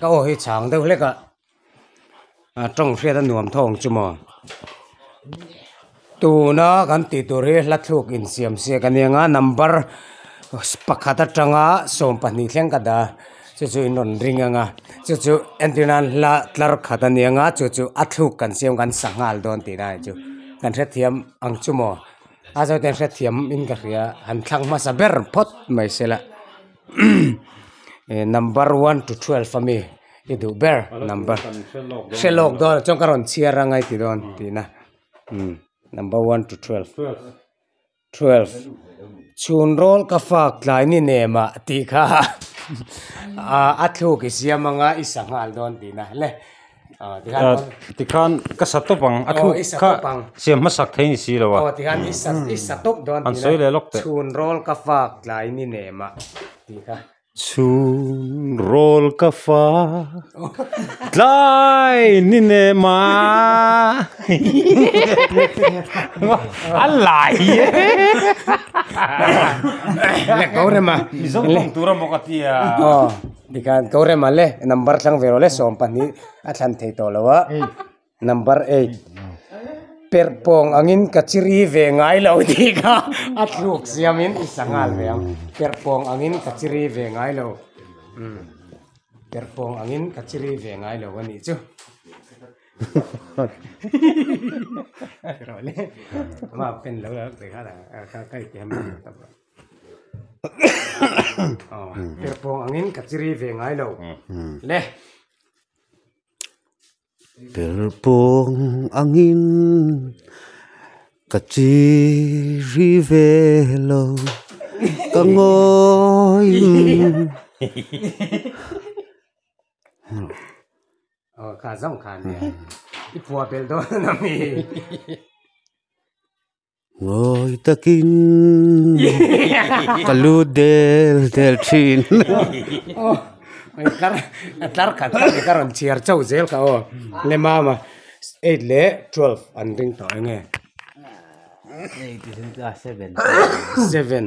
Ka aw hi chhang deuh hlek a, a tawng hriat a nuam thawng chu maw. Tuna kan tih tur hi hla thluk insiamsiak a nia a, number pakhat atanga sawm pahnih thleng ka dah a, chu chu in rawn ring ang a, chu chu entîr nân hla tlar khat a nia chu chu a thluk kan siam kan sak nghal dawn tih dai chu kan hrethiam ang chu maw, a zawte hrethiam in ka hria han thlak hmasa ber phawt mai sela. ehh number one to twelve a mi i duh ber number hre lawk dawn ah chuan ka rawn chhiar a ngaiti dawn tihna number one to twelve twelve chhun rawl ka fak tlai ni nem ah tih kha a thluk i siam anga i sa nghal dawn tihna hle. Aa tikhan ka sa tawp ang a thu kha siam hmasak thei ni silo a han sawi leh lawk teh. Chhun rawl ka fak tlai ni nem ah a lai hi e Mizoram awm tura maw ka tia. Tikhan ko rem a le number thlang ve lo le sawm pahnih a thlan thei tawh lo a number eight perhpawng angin ka chi ri ve ngai lo tih kha a thluk siam in i sa nghal ve ang perhpawng angin ka chi ri ve ngai lo perhpawng angin ka chi ri ve ngai lo a nih chu rawh le mah pen lo la rawh teh kha ka hetiam lo. ber pawng ang in ka chi ri ve ngai lo le. Ber pawng ang in ka chi ri ve lo ka ngawi Aw kha zawng khan nia i puah belh dawn a mi. Ngawi takin ka lu del del thin a tlar khat khat hi ka rawn chhiar chauh zel ka aw nge mama eight leh twelve an ring tawh enge seven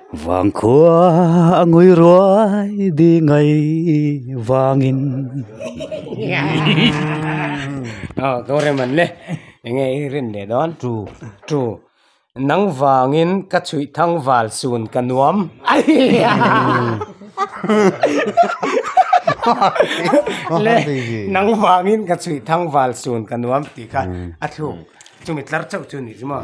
Vang khua a ngui ruai dingai vangin Aw ka rem an le enge i rin leh dawn tru tru nang vangin ka chhuih thang val sun ka nuam le nang vangin ka chhuih thang val sun ka nuam tih kha a thluk chumi tlar chauh chu a ni chu maw.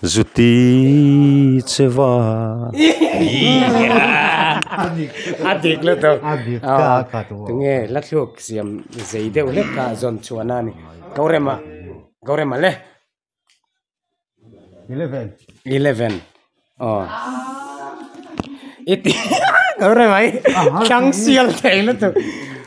Zuti chewa a dik lut a a dik ka a cut u tunge la thluk siam zei deuh hlek ka zawn chhuah na ni go rem ah go rem ah le eleven eleven aw i tih go rem ah hi thlang sial theih lutuk.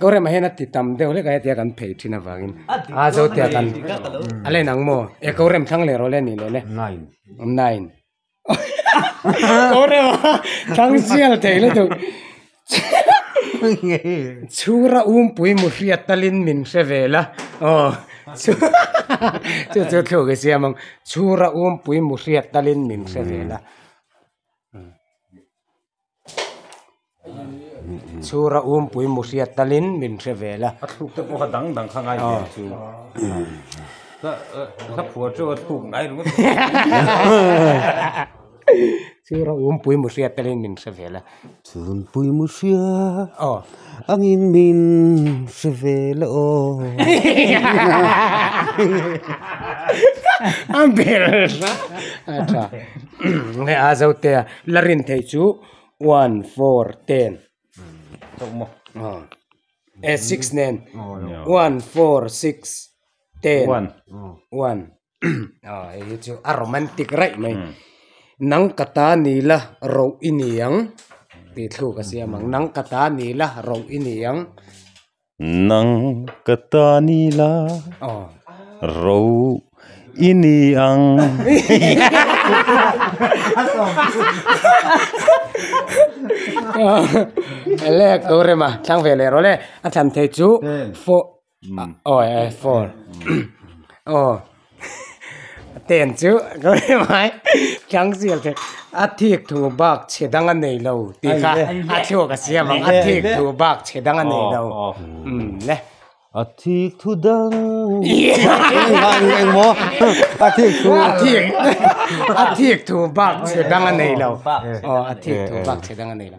Kawr emaw hian a ti tam deuh hlek a hetia kan phei thin avangin aa zo tia kan a len ang maw? E kawrem thlang leh rawh le ni leh le. Nine. Nine. Kawr emaw thlang sial thei luh duh. Chhura umpui mu hriat talin min hre ve la aw chu chu thluk i siam ang chhura umpui mu hriat talin min hre ve la. chhur a um pui mu hriat tal in min hre ve la a thluk te pawh kha dang dang kha ngai ve chu ka ka phua chu a thluk ngai ringawt chhur a um pui mu hriat tal in min hre ve la chhur a um pui mu hriat aw ang in min hre ve la aw a bel hle a tha nge a zo te a La rin thei chu one four ten e six nen one four six ten one hei hi chu a romantic raih mai nang ka ta ni la roh i ni ang tih thluk a siam ang nang ka ta ni la roh i ni ang. nang ka ta ni la ro i ni ang lek tur rema thlang ve leh rawh le a thlan thei chu four aw four aw. Ten chu rimai tlang zel thei a thik thu bak chhe dang a nei lo tih kha a thluk a siam ang a thik thu bak chhe dang a nei lo nge a thik thu dang a thik thu a thik a thik thu bak chhe dang a nei lo aw a thik thu bak chhe dang a nei lo.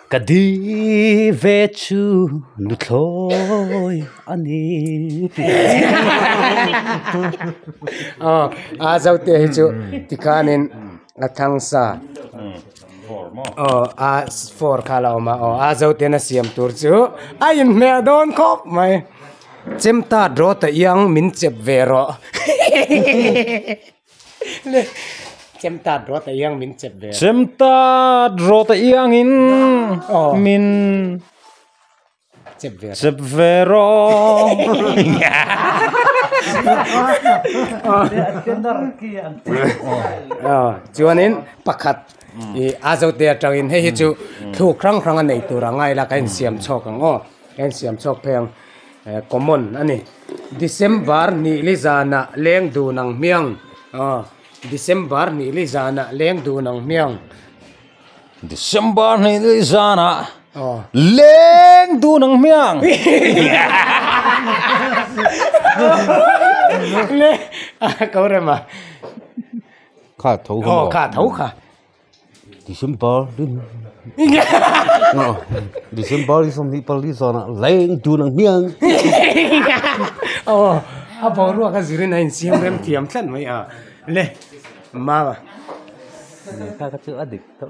Ka di ve chu nu thlawi a ni aw a zo te hi chu ti khan in a thangsa aw a four kha la awm a aw a zo ten a siam tur chu a in hmel dawn khawp mai chem ta draw ta iang min chep ve rawh. Chemtat rawt a iang min chep ve. Chemtat rawt a iang in min chep ve. Chep ve rawh. Chuan in pakhat i azote a tang in hei hi chu thluk hrang hrang a nei tur a ngai la ka in siam chawk ang aw ka in siam chawk phei ang. Common a ni. December hnihli zanah leng dun ang hmiang aw December hnihli zanah leng dun ang hmiang December hnihli zanah aw leng dun ang hmiang le a ko rem a kha tho kha. December December i zawm hi pali zawhna leng tun ang hian aw a boruak a zir in a insiam rem thiam tlat mai a le mama lehkha ka chu a dik tawh.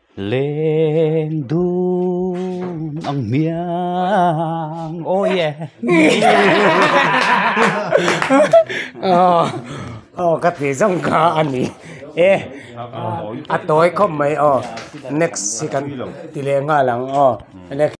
Leng dun ang hmiang oh yeah oh oh ka tih zawng kha a ni e a tawi khawp mai aw next hi kan ti leh nghal ang aw next .